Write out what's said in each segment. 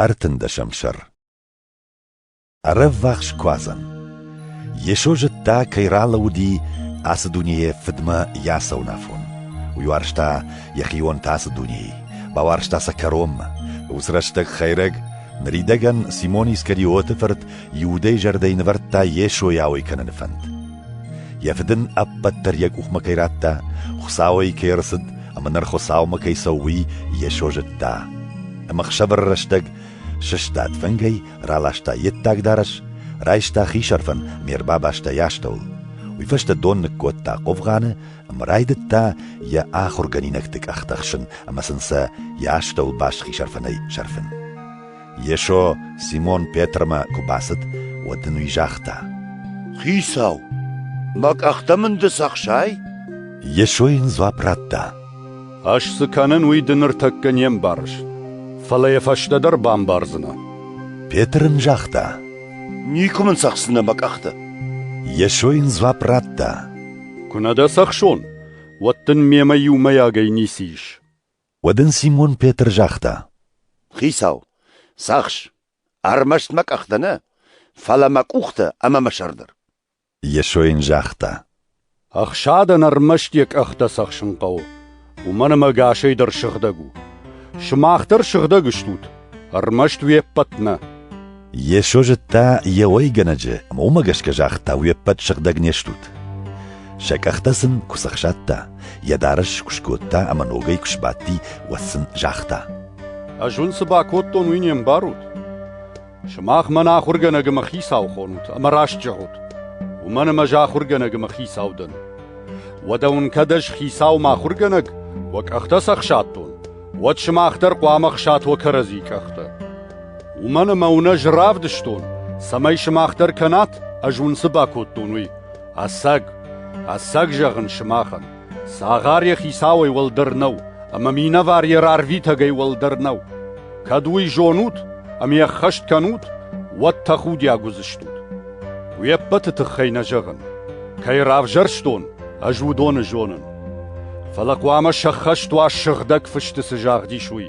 Ӕртындӕсӕм сӕр Ӕрӕввахс куадзӕн Йесо зыдта, кӕй ралӕууыди ацы дунейы фыдмӕ йӕ сӕуынафон. Уый уарзта йӕхион та ацы дунейы, бауарзта сӕ кӕронмӕ. Уыцы рӕстӕг Хӕйрӕг, ныридӕгӕн Симон Искариоты фырт, Иудӕйы зӕрдӕйы нывӕрдта Йесойы ауӕй кӕныны фӕнд. Йӕ фыд ын ӕппӕт дӕр йӕ къухмӕ кӕй радта, Хуыцауӕй кӕй ӕрцыд ӕмӕ ныр Хуыцаумӕ кӕй цӕуы, уый Йесо зыдта. Ӕмӕ ӕхсӕвӕр рӕстӕг сыстад фынгӕй, раласта йе ддаг дарӕс, райста хисӕрфӕн ме рбабастӕй астӕуыл. Уый фӕстӕ дон ныккодта хъовгъаны ӕмӕ райдыдта йӕ ахуыргӕнинӕгты къӕхтӕ хсын ӕмӕ сын сӕ йӕ астӕуыл бас хисӕрфӕнӕй сӕрфын. Йесо Симон Петрмӕ куы бацыд, уӕд ын уый загъта: «Хицау, мӕ къӕхтӕ мын ды цы ӕхсай?» Йесо йын дзуапп радта: «Ӕз цы кӕнын, уый ды ныртӕккӕ не мбарыс, фӕлӕ йӕ фӕстӕдӕр бамбардзынӕ». Петр ын загъта: «Никуы мын цӕхсынӕ мӕ къӕхтӕ». Йесо йын дзуапп радта: «Куы нӕ дӕ цӕхсон, уӕд дын мемӕ иумӕйагӕй ницы ис». Уӕд ын Симон Петр загъта: Хицау, цахс, ӕрмӕст мӕ къӕхтӕ нӕ, фӕлӕ мӕ къухтӕ ӕмӕ мӕ сӕр дӕр. Йесо йын загъта: Ӕхсадӕн ӕрмӕст йӕ къӕхтӕ цӕхсын хъӕуы, уымӕн ӕмӕ ӕгасӕй дӕр сыгъдӕг у. Сымах дӕр сыгъдӕг стут, ӕрмӕст уе ппӕт нӕ. Йесо зыдта йӕ уӕйгӕнӕджы ӕмӕ уымӕ гӕсгӕ загъта, уе ппӕт сыгъдӕг не стут. Сӕ къӕхтӕ сын куы сӕхсадта, йӕ дарӕс куы скодта ӕмӕ ногӕй куы сбадти, уӕд сын загъта: Ӕз уын цы бакодтон, уый не мбарут? Сымах мӕн ахуыргӕнӕг ӕмӕ хицау хонут ӕмӕ раст зӕгъут, уымӕн ӕмӕ ӕз ахуыргӕнӕг ӕмӕ хицау дӕн. Уӕдӕ уын кӕд ӕз хицауым ахуыргӕнӕг, уӕ къӕхтӕ сӕхсадтон, уӕд сымах дӕр хъуамӕ хсат уӕ кӕрӕдзийы къӕхтӕ. Уымӕн ӕмӕ уын ӕз равдыстон, цӕмӕй сымах дӕр кӕнат, ӕз уын цы бакодтон, уый. Ӕцӕг, ӕцӕг зӕгъын сымахӕн, цагъар йӕ хицауӕй уӕлдӕр нӕу, ӕмӕ минӕвар йӕ рарвитӕгӕй уӕлдӕр нӕу. Кӕд уый зонут ӕмӕ йӕ ӕххӕст кӕнут, уӕд тӕхудиаг уыдзыстут. Уе ппӕты тыххӕй нӕ зӕгъын. Кӕй равзӕрстон, ӕз уыдоны зонын. Фӕлӕ хъуамӕ сӕххӕст уа сыгъдӕг фысты цы загъдис, уый.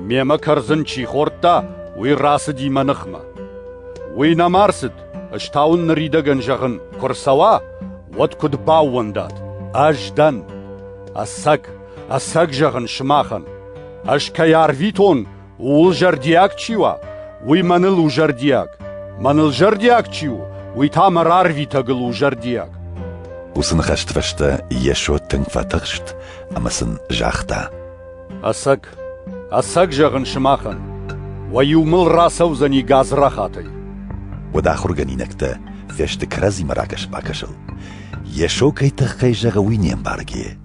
Мемӕ кӕрдзын чи хордта, уый рацыди мӕ ныхмӕ. Уый нӕма рцыд, ӕз та уын ныридӕгӕн зӕгъын, куы рцӕуа, уӕд куыд баууӕндат. Ӕз дӕн. Ӕцӕг, ӕцӕг зӕгъын сымахӕн. Ӕз кӕй арвитон, Ууыл зӕрдиаг чи уа, уый мӕныл у зӕрдиаг. Мӕныл зӕрдиаг чи у, уый та мӕ рарвитӕгыл у зӕрдиаг. Уыцы ныхӕсты фӕстӕ Йесо тынг фӕтыхст ӕмӕ сын загъта: Ӕцӕг, ӕцӕг зӕгъын сымахӕн, уӕ-иу мыл рацӕудзӕни гадзрахатӕй. Уӕд ахуыргӕнинӕгтӕ фӕсты кӕрӕдзимӕ ракӕс-бакӕсыл. Йесо кӕй тыххӕй зӕгъы, уый не мбаргӕ.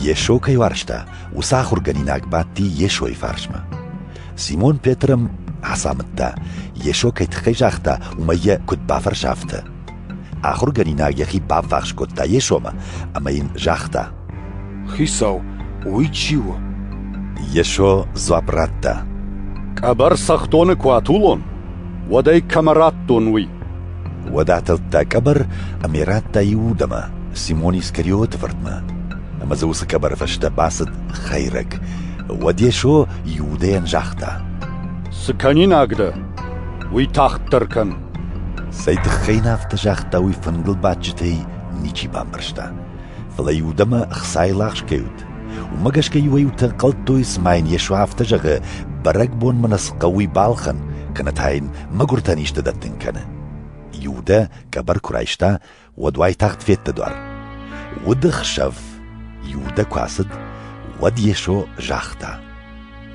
Йесо кӕй уарзта, уыцы ахуыргӕнинаг бадти Йесойы фарсмӕ. Симон Петрым ацамыдта, Йесо кӕй тыххӕй загъта, уымӕй йӕ куыд бафӕрса, афтӕ. Ахуыргӕнинаг йӕхи баввахс кодта Йесомӕ ӕмӕ йын загъта. «Хицау, уый чи у?» Йесо дзуапп радта. «Къӕбӕр цӕхдоны куы атулон, уӕд ӕй кӕмӕ радтон, уый». Уӕд атылдта къӕбӕр ӕмӕ радта иу удӕмӕ, Симон Искариоты фыртмӕ. Ӕмӕ дзы уыцы къӕбӕры фӕстӕ бацыд хӕйрӕг. Уӕд Йесо Иудӕйӕн загъта: «Цы кӕнинаг дӕ, уый тагъддӕр кӕн». Цӕй тыххӕй нын афтӕ загъта, уый фынгыл бадджытӕй ничи бамбӕрста. Фӕлӕ Иудӕмӕ ӕхцайыл ахсгӕ уыд, Уымӕ гӕсгӕ иуӕй-иутӕ ӕнхъӕлдтой, цыма йын Йесо афтӕ зӕгъы, бӕрӕгбонмӕ нӕ цы хъӕуы балхӕн, кӕнӕ та йын мӕгуыртӕн исты дӕттын кӕны. Иудӕ къӕбӕр куы райста, уӕд уайтагъд федта дуар. Уды хсӕв Иудӕ куы ацыд, уӕд Йесо загъта: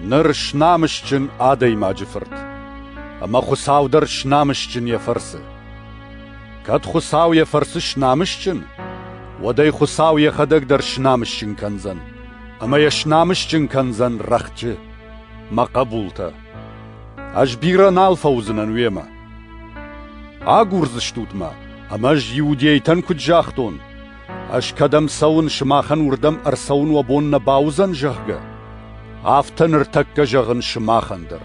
«Ныр снамысджын адӕймаджы фырт, ӕмӕ Хуыцау дӕр снамысджын йӕ фӕрцы!» Кӕд Хуыцау йӕ фӕрцы снамысджын, уӕд ӕй Хуыцау йӕхӕдӕг дӕр снамысджын кӕндзӕн, ӕмӕ йӕ снамысджын кӕндзӕн рӕхджы, мӕ хъӕбултӕ. Ӕз бирӕ нал фӕуыдзынӕн уемӕ. Агурдзыстут мӕ, ӕмӕ ӕз иудейтӕн куыд загътон, ӕз кӕдӕм цӕуын, сымахӕн уырдӕм ӕрцӕуын уӕ бон нӕ бауыдзӕн, зӕгъгӕ, афтӕ ныртӕккӕ зӕгъын сымахӕн дӕр.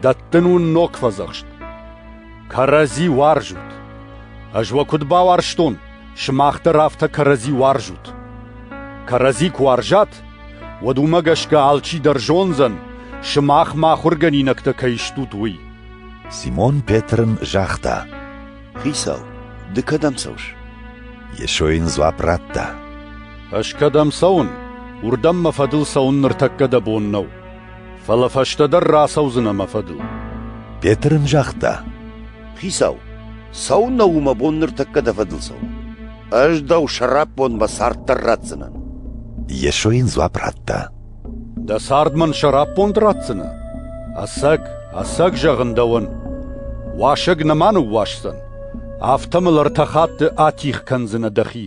Дӕттын уын ног фӕдзӕхст. Кӕрӕдзи уарзут. Ӕз уӕ куыд бауарзтон, сымах дӕр афтӕ кӕрӕдзи уарзут. Кӕрӕдзи куы уарзат, уӕд уымӕ гӕсгӕ алчи дӕр зондзӕн, сымах ма ахуыргӕнинӕгтӕ кӕй стут, уый. Симон Петрын загъта: Хицау, ды кӕдӕм цӕуыс? Йесо йын дзуапп радта: Ӕз кӕдӕм цӕуын, уырдӕм мӕ фӕдыл цӕуын ныртӕккӕ дӕ бон нӕу. Фӕлӕ фӕстӕдӕр рацӕудзынӕ мӕ фӕдыл. Петр ын загъта. Хицау, цӕуыннӕ у мӕ бон ныртӕккӕ дӕ фӕдыл цӕуын? Ӕз дӕу сӕраппонд мӕ царддӕр ратдзынӕн. Йесо йын дзуапп радта. Дӕ цард мӕн сӕраппонд ратдзынӕ? Ӕцӕг, ӕцӕг зӕгъын дӕуӕн, уасӕг нӕма ныууасдзӕн, афтӕ мыл ӕртӕ хатты атигъ кӕндзынӕ дӕхи.